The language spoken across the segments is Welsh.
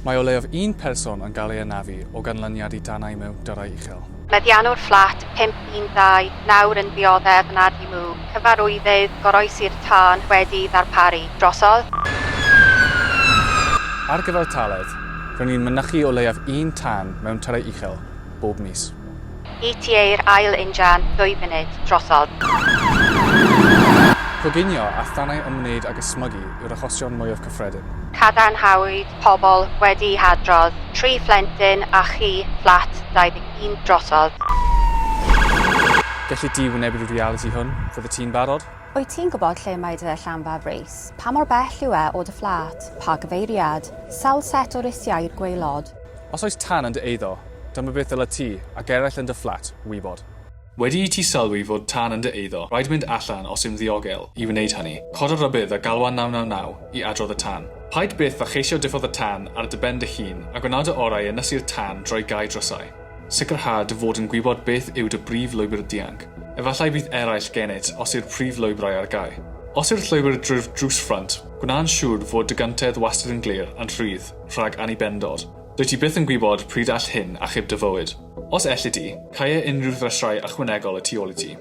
Mae o leiaf un person yn cael ei anafu o ganlyniad i danau mewn dyrau uchel. Meddiannwr fflat 512 nawr yn dioddef yn Adi Mw, cyfarwyddyd goroesi'r tân wedi'i ddarparu. Drosodd. Ar gyfartaledd, r'yn ni'n mynychu o leiaf un tân mewn tyrau uchel bob mis. ETA'r ail injan, dwy funud, drosodd. Coginio a thanau ymwneud ag ysmygu yw'r achosion mwyaf cyffredin. Cadarnhawyd pobl wedi'u hadrodd, tri phlentyn a chi, fflat 21, drosodd. Gelli di wynebu'r realiti hwn? Fyddet ti'n barod? Wyt ti'n gwybod lle mae dy Llanfaf Rees? Pa mor bell yw e o dy fflat? Pa gyfeiriad? Sawl set o risiau i'r gwaelod? Os oes tân yn dy eiddo, dyma beth ddylet ti, ac eraill yn dy fflat, wybod. Wedi i ti sylwi fod tân yn dy eiddo, rhaid mynd allan os yw'n ddiogel i wneud hynny. Coda rybudd a galwa 999 i adrodd y tân. Paid byth â cheisio diffodd y tân ar dy ben dy hun, a gwna dy orau i ynysu'r tân drwy gau drysau. Sicrha dy fod yn gwybod beth yw dy brif lwybr dianc. Efallai fydd eraill gennyt os yw'r prif lwybrau ar gau. Os yw'r llwybr drwy'r drws ffrynt, gwna'n siŵr fod dy gyntedd wastad yn glir a'n rhydd. Rhag annibendod. Dwyt ti byth yn gwybod pryd all hyn achub dy fywyd. Os elli di, caea unrhyw ddrysiau ychwanegol y tu ôl i ti.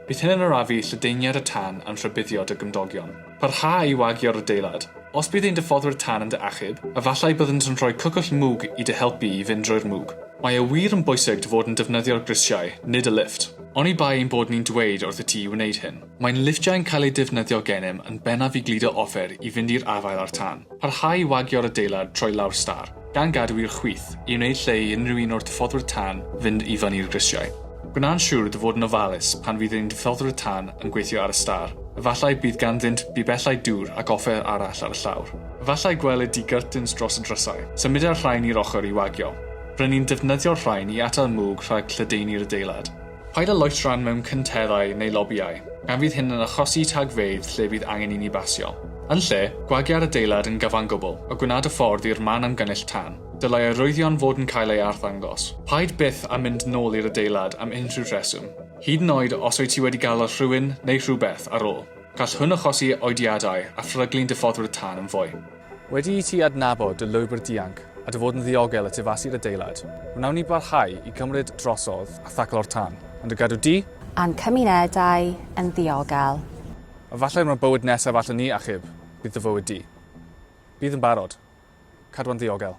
Bydd hyn yn arafu lledaeniad y tân a'n rhybuddio dy gymdogion. Parha i wagio'r adeilad. Os bydd ein diffoddwyr tân yn dy achub, efallai byddant yn rhoi cwcwll mwg i dy helpu i fynd drwy'r mwg. Mae e wir yn bwysig dy fod yn defnyddio'r grisiau, nid y lifft. Oni bai ein bod ni'n dweud wrthyt ti i wneud hyn. Mae'n lifftiau'n cael eu defnyddio gennym yn bennaf i gludo offer i fynd i'r afael â'r tân, parhau i wagio'r adeilad troi lawr stâr, gan gadw i'r chwith, i wneud lle i unrhyw un o'r diffoddwyr tân fynd i fyny'r grisiau. Gwna'n siŵr dy fod yn ofalus pan fydd ein diffoddwyr tân yn gweithio ar y stâr, efallai bydd ganddynt bibellau dŵr ac offer arall ar y llawr. Efallai gwelid di gyrtins dros y drysau. Symuda'r rhain i'r ochr i wagio. Ry'n ni'n defnyddio'r rhain i atal mwg rhag lledaenu'r adeilad. Paid â loet rhan mewn cynteddau neu lobïau, gan fydd hyn yn achosi tagfeydd lle bydd angen i ni basio. Yn lle, gwagia'r adeilad yn gyfangwbl a gwna dy ffordd i'r man amgynnull tân. Dylai arwyddion fod yn cael eu arddangos. Paid byth â mynd nôl i'r adeilad am unrhyw reswm, hyd yn oed os wyt ti wedi galw rhywun neu rhywbeth ar ôl. Gall hwn achosi oediadau a phryglyn diffoddwyr tân yn fwy. Wedi i ti adnabod dy lwybr dianc a dy fod yn ddiogel y tu fas i'r adeilad, wnawn ni barhau i gymryd drosodd a thaclo'r tân, yn dy gadw di, a'n cymunedau, yn ddiogel. Efallai am y bywyd nesaf allen ni achub, bydd dy fywyd di. Bydd yn barod. Cadwa'n ddiogel.